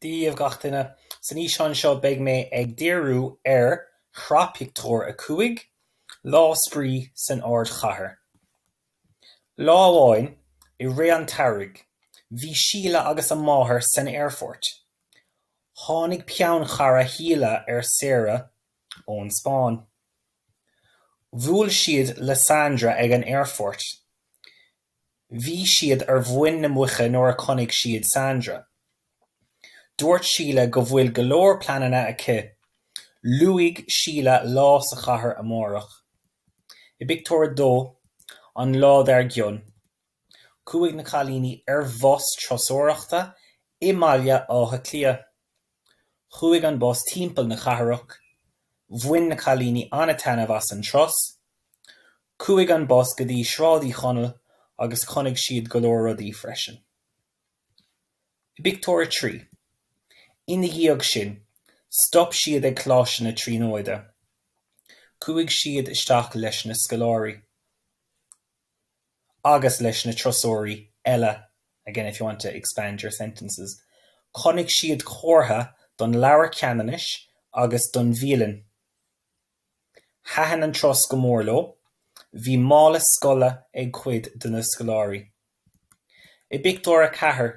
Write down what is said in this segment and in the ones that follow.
Dia dhaoibh gach duine! San fhíseán seo beidh mé ag díriú ar shraith pictiúr 5, Lá Spraoi san Ardchathair. Lá amháin i rith an tsamhraidh, bhí Síle agus a máthair san aerfort. Tháinig peann chara Shíle ar saoire ón Spáinn. Bhuail siad le Sandra ag an aerfort. Bhí siad ar mhuin na muice nuair a chonaic siad Sandra. Dúirt Síle go bhfuil go leor pleananna aici, luaigh Síle lá sa chathair amárach. I bpictiúr a dó, an lá dár gcionn, chuaigh na cailíní ar bhus turasóireachta i mBaile Átha Cliath. Chuaigh an bus timpeall na cathrach. Bhain na cailíní an-taitneamh as an turas. Chuaigh an bus go dtí Sráid Uí Chonaill agus chonaic siad go leor rudaí freisin. I bpictiúr a trí. Ina dhiaidh sin, stop siad ag Coláiste na Tríonóide. Chuaigh siad isteach leis na scoláirí. agus leis na turasóirí eile, again if you want to expand your sentences, chonaic siad comhartha don Leabhar Ceannanais agus don bhialann. Thaitin an turas go mór leo, bhí mála scoile ag cuid de na scoláirí. I bpictiúr a ceathair,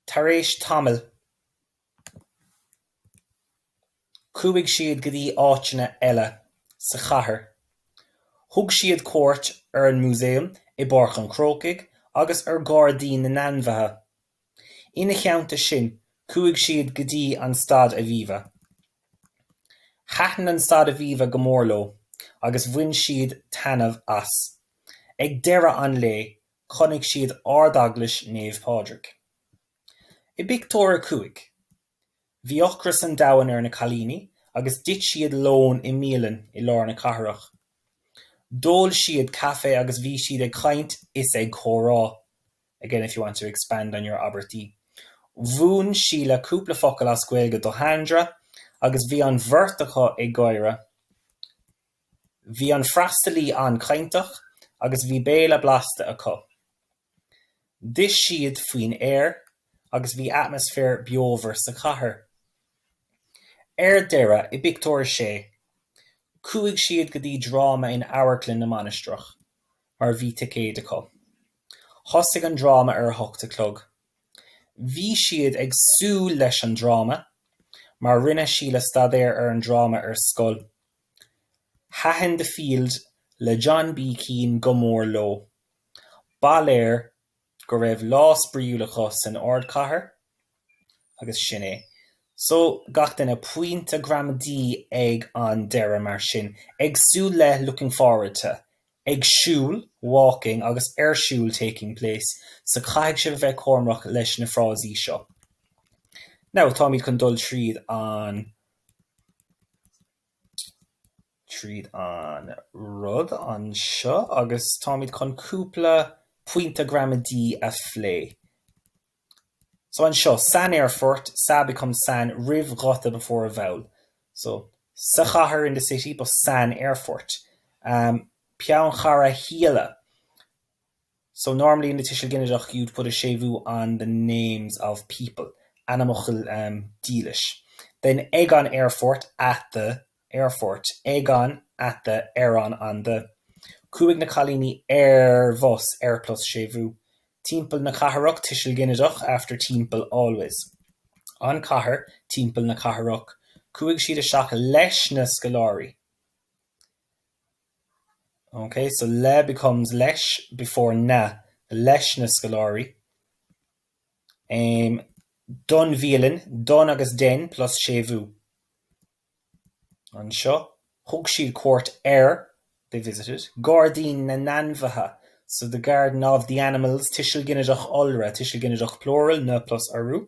tar éis tamaill, Chuaigh siad go dtí áiteanna eile sa chathair. Thug siad cuairt ar an Músaem i bPáirc an Chrócaigh agus ar Ghairdín na nAinmhithe. Ina theannta sin, chuaigh siad go dtí an Staid Aviva. Thaitin an Staid Aviva go mór leo agus bhain siad taitneamh as. Ag deireadh an lae, chonaic siad Ard-Eaglais Naomh Pádraig. I bpictiúr a cúig, bhí ocras an domhain ar na cailíní agus d'ith siad lón i mbialann i lár na cathrach. D'ól siad caife agus bhí siad ag caint is ag comhrá. Again, if you want to expand on your abairtí. Mhúin Síle cúpla focal as Gaeilge do Shandra agus bhí an bheirt acu ag gáire. Bhí an freastalaí an-chainteach agus bhí béile blasta acu. D'ith siad faoin aer agus bhí atmaisféar beomhar sa chathair. Ar deireadh, i bpictiúr a sé, chuaigh siad go dtí dráma in Amharclann na Mainistreach mar bhí ticéid acu. Thosaigh an dráma ar a hocht a chlog. Bhí siad ag súil leis an dráma mar rinne Síle staidéar ar an dráma ar scoil. Thaitin The Field le John B Keane go mór leo. Ba léir go raibh lá spraíúil acu san ardchathair agus sin é. So, gach duine, pointe gramadaí ag an deireadh mar sin, ag súil le looking forward to, ag siúl walking agus ar siúl taking place, so caithfidh sibh a bheith cúramach leis na frásaí seo. Now, táimid chun dul tríd an. tríd an rud anseo agus táimid chun cúpla pointe gramadaí a phlé. So anseo, San aerfort, sa becomes san roimh ghuta before a vowel. So sa chathair in the city but san aerfort. Peannchara Shíle. So normally in the Tuiseal Ginideach you'd put a séimhiú on the names of people, ainmfhocal dílis. Then ag an aerfort, at the airport. Ag an, at the, ar an, on the. Chuaigh na cailíní ar bhus, ar plus séimhiú. Timpeall na cathrach, Tuiseal Ginideach after timpeall always. An chathair, timpeall na cathrach. Chuaigh siad isteach leis na scoláirí. OK, so le becomes leis before na, leis na scoláirí. Em, don bhialann, don agus den plus séimhiú. Anseo, thug siad cuairt ar, they visited, gairdín na n-ainmhithe, so the garden of the animals, tuiseal ginideach iolra, tuiseal ginideach plural, na plus urú.